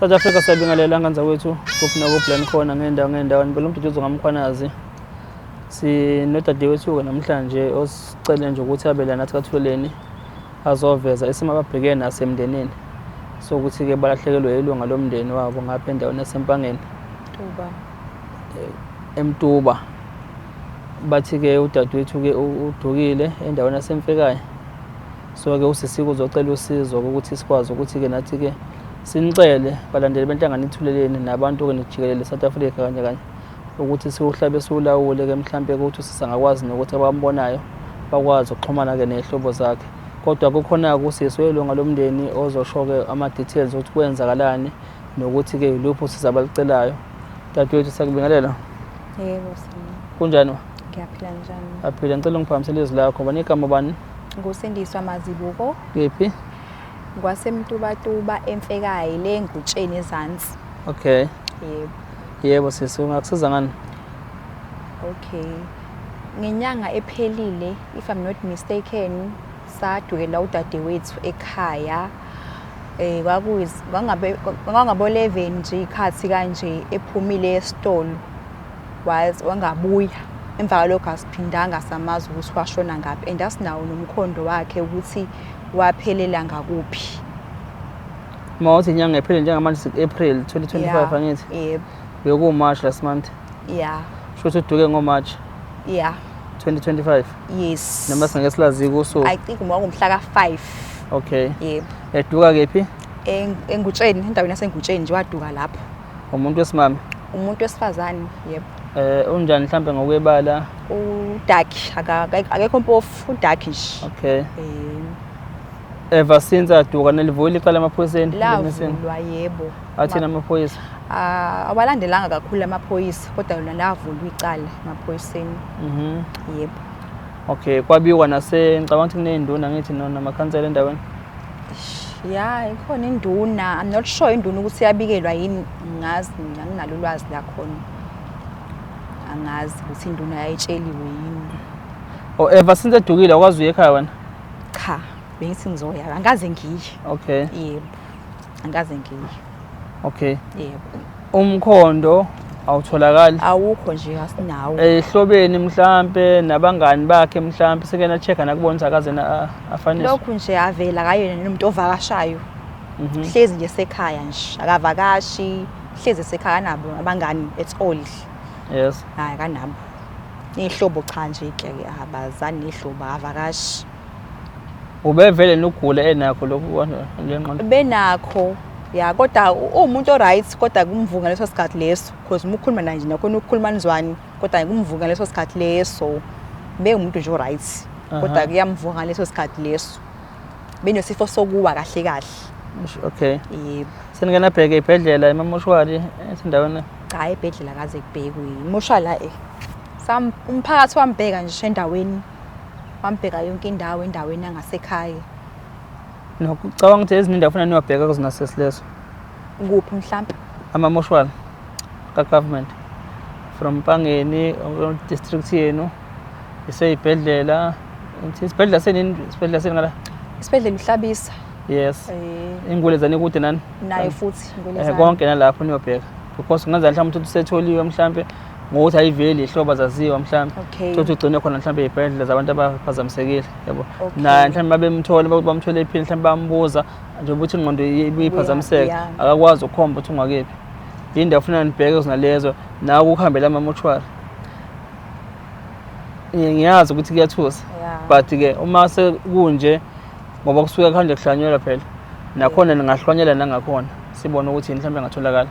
South Africa siyabingelela nganza kwethu kuphi nakublan khona ngendawo ngendawo ngibela umduduzo ngamkhwanazi sinodadewethu-ke namhlanje osicele nje ukuthi abe la nathi kathuleleni azoveza isimo ababhekene naso emndenini sokuthi-ke balahlekelwe ilunga lomndeni wabo ngapha endaweni yasempangeni emtuba bathi-ke udadewethu-ke udukile endaweni yasemfekayo So-ke usisi kuzocela usizo ukuthi sikwazi ukuthi-ke nathi-ke sinicele balandeli benhlangano ithuleleni nabantu-ke nijikelele South Africa kanye kanye ukuthi siwuhlabe siwulawule-ke mhlawumpe ukuthi usisi angakwazi nokuthi abambonayo bakwazi ukuxhumana-ke ney'hlobo zakhe kodwa kukhona-ke usisi welunga lomndeni ozosho-ke ama-details ukuthi kwenzakalani nokuthi-ke yiluphi usisi abalucelayo dadewethu siyakubingelela yebo kunjani ngiyaphila njani aphile ngicela ungiphakamisele izwi lakho banikama bani Ngusindiswa Mazibuko. Kephi? Ngwasemtubatuba emfekayi le ngutsheni ezansi. Okay. Yebo. Yebo sisi ungakusiza ngani? Okay. Ngenyanga ephelile if I'm not mistaken sadukela udadewethu ekhaya eh kwakuyiz kwangabe kwangabo 11 nje ikhathi kanje ephumile esitolo Waze wangabuya emva kwalokho asiphindanga samazi ukuthi washona ngaphi and asinawo nomkhondo wakhe ukuthi waphelela ngakuphi mawuthi inyanga ephele njengamanje siku-april 2025 angithi yebo bekuwumarch last month ya sho ukuthi uduke ngomarch ya 2025 yes noma singeke silazi kusuku i think ngomhla ka-five okay yebo eduka kephi engutsheni endaweni yasengutsheni nje waduka lapho Umuntu wesimame. Umuntu wesifazane, yebo. Eh unjani mhlambe ngokwebala? U dark akekho mpofu, u dark nje. Okay. Eh ever since aduka nelivuli iqala emaphoyiseni lavulwa yebo athina amaphoyisa ah awalandelanga kakhulu amaphoyisa kodwa lona lavulwa icala emaphoyiseni mhm yebo okay kwabiwa nase ngicabanga ukuthi kunezinduna ngithi nona amakhansela endaweni ya ikhona induna i'm not sure induna ukuthi yabikelwa yini ngazi anginalo ulwazi lakhona angazi ukuthi induna yayitsheliwe yini o oh, ever since edukile akwazi uye ekhaya wena cha bengithi ngizoya angikaze ngiye okay yebo angikaze ngiye Okay. Yebo. Umkhondo awutholakali. Awukho nje asinawo. Ehlobeni mhlambe nabangani bakhe mhlambe sekena check nakubona ukuthi akaze na afanise. Lokhu nje avela kayena nomuntu ovakashayo. Mhm. Hlezi nje sekhaya nje akavakashi hlezi sekhaya nabo abangani at all. Yes. Hayi kanabo. Nehlobo cha nje ke abazani nehlobo avakashi. ubevele nokugula enakho lokhu lenqondo benakho ya kodwa uwumuntu oright kodwa kumvuka leso sikhathi leso because uma ukhuluma naye nje nakhona ukukhuluma nizwani kodwa kumvuka leso sikhathi leso bewumuntu nje oright kodwa kuyamvuka leso sikhathi leso benesifo sokuwa kahle kahle okay yebo seningena bheke ibhedlela emamoshwari esindaweni cha ebhedlela kaze kubhekwe imoshwala eh umphakathi wambheka nje endaweni wambheka yonke indawo endaweni yangasekhaya nokucabanga ukuthi ezinye indawo funa niwabheka kuzona sesileso kuphi mhlawumbe amamoshwala kagovernment from mpangeni district yenu iseyibhedlela isibhedlela senini isibhedlela seni ngala isibhedlela uhlabisa yes eh. ingule zani kude nani naye futhi ingule eh, zani konke nalapho niyobheka because kungenzeka mhlawumbe ukuthi usetholiwe mhlawumbe ngokuthi ayiveli ihlobo azaziwa mhlawumbe okay. thothi ugcine khona mhlawumbe ey'bhedlela zabantu abaphazamisekile yabo okay. naye mhlawumbe babemthole bakuthi bamthole ephini mhlawumbe bambuza njengoba ukuthi ingqondo ibiyiphazamiseka yeah, yeah. akakwazi ukukhomba ukuthi ungakephi yini ndawo funa nibheke zinalezo nawe ukuhambela amamoshwari ngiyazi ukuthi kuyathusa yeah. but-ke uma sekunje ngoba kusuke kuhande kuhlanyelwa phela nakhona ningahlwanyela nangakhona sibone ukuthi yini mhlawumbe engatholakala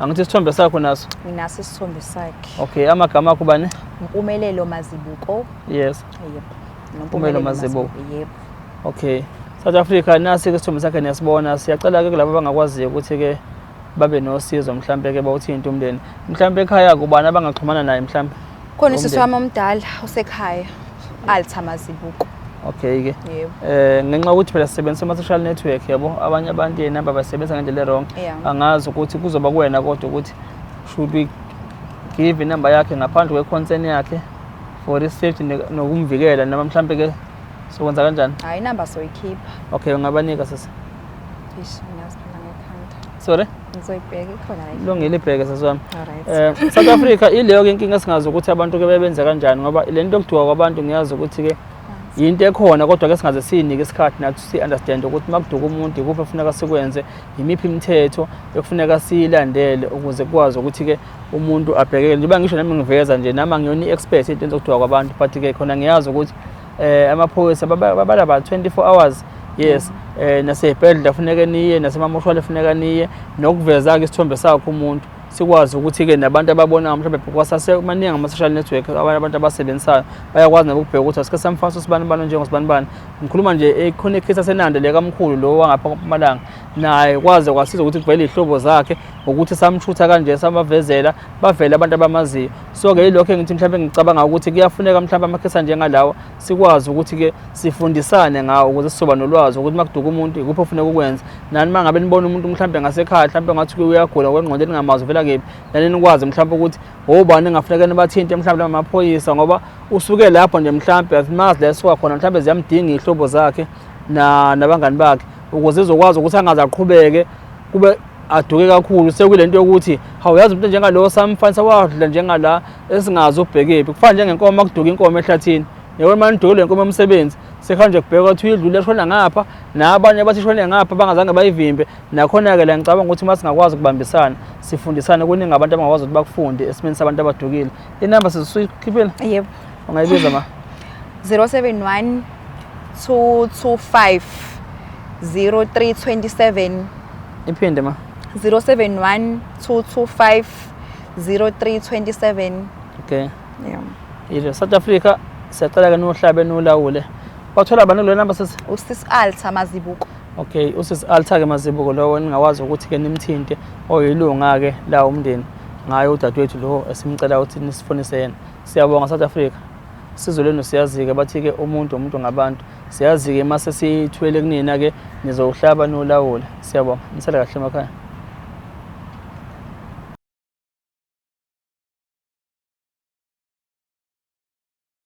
Angithi isithombe sakho naso? Nginaso isithombe sakhe. Okay, amagama akho bani? Mpumelelo Mazibuko. Yes. Yep. Mpumelelo Mazibuko. Yep. Okay. South Africa nasi ke isithombe sakhe niyasibona. Siyacela ke kulabo abangakwaziyo ukuthi ke babe nosizo mhlambe ke bawuthinte umndeni. Mhlambe ekhaya kubani abangaxhumana naye mhlambe? Khona usisi Umndeni. wami omdala usekhaya Alta Mazibuko. okay ke Yebo. eh ngenxa yokuthi phela sisebenzisa ama social network yabo abanye abantu yena babasebenza ngendlela wrong Yeah. angazi ukuthi kuzoba kuwena kodwa ukuthi should we give inamba yakhe ngaphandle kwe concern yakhe for his safety ne- nokumvikela noma mhlambe ke sokwenza kanjani Hayi number soyikhipha. okay ungabanika sisi Ish ngiyaziphila ngekhanda. sorry ngizoyibheka ikhona la lungile ibheke sasami eh South Africa ileyo ke inkinga singazi ukuthi abantu ke bebenza kanjani ngoba le nto yokudwa kwabantu ngiyazi ukuthi ke yinto ekhona kodwa ke singaze sinike isikhathi nathi si understand ukuthi makuduka umuntu ikuphi efuneka sikwenze yimiphi imithetho ekufuneka siyilandele ukuze kwazi ukuthi ke umuntu abhekeke njengoba ngisho nami ngiveza nje nama ngiyona i-expert into yokudwa kwabantu but ke khona ngiyazi ukuthi eh amaphoyisa babala ba 24 hours yes mm. eh nasebhedlela kufuneka niye nasemamoshwale kufuneka niye nokuveza ke isithombe sakho umuntu sikwazi ukuthi ke nabantu ababona mhlawumbe kwasase maningi ama social network abantu abasebenzisayo bayakwazi nabo ukubheka ukuthi asike samfasa usibani bani njengosibani bani ngikhuluma nje ekhona eh, ikhisa senande le kamkhulu lo wangapha kwamalanga naye kwaze kwasiza ukuthi kuvele izihlobo zakhe ngokuthi samshutha kanje samavezela bavele abantu abamaziyo so-ke yilokho engithi mhlawumbe ngicabanga ukuthi kuyafuneka mhlawumbe amakhesa njengalawa sikwazi ukuthi-ke sifundisane ngawo ukuze sizoba nolwazi ukuthi uma kuduka umuntu ikuphi ofuneka ukwenza nani uma ngabe nibona umuntu mhlawumbe ngasekhaya mhlawumbe ngathi uyagula ngokwengqondo eningamazwi uvela kephi nani nikwazi mhlawumbe ukuthi wobani engafuneka nibathinte mhlawumbe laba maphoyisa ngoba usuke lapho nje mhlawumbe asimazi la esuka khona mhlawumbe ziyamdinga iy'hlobo zakhe nabangani bakhe ukuze izokwazi ukuthi angaze aqhubeke kube aduke kakhulu sekule nto yokuthi hawu yazi umuntu njengalowo samfanisa wadla njengala esingazi ubhekephi kufana njengenkomo akuduka inkomo ehlathini yabona uma nidukile le nkomo yomsebenzi sekuhanje kubheka ukuthi uyidlule shona ngapha nabanye abathi shone ngapha bangazange bayivimbe nakhona-ke la ngicabanga ukuthi uma singakwazi ukubambisana sifundisane kuningi abantu abangakwazi ukuthi bakufunde esimeni sabantu abadukile inamba sizisuyikhiphile yebo ungayibiza ma 071 225 0327 iphinde ma 071 225 0327 okay yeah yile South Africa siyacela ke nohlabe nolawule wathola abantu lo number sisi usis Alta Mazibuko okay usis Alta ke Mazibuko lowo ningawazi ukuthi ke nimthinte oyilunga ke la umndeni ngayo udadewethu lo esimcela ukuthi nisifonise yena Siyabonga South Africa. Sizwe lenu siyazike bathi ke umuntu umuntu ngabantu. Siyazike mase sithwele kunina ke nizowuhlaba nolawula. Siyabonga. Nisele kahle emakhaya.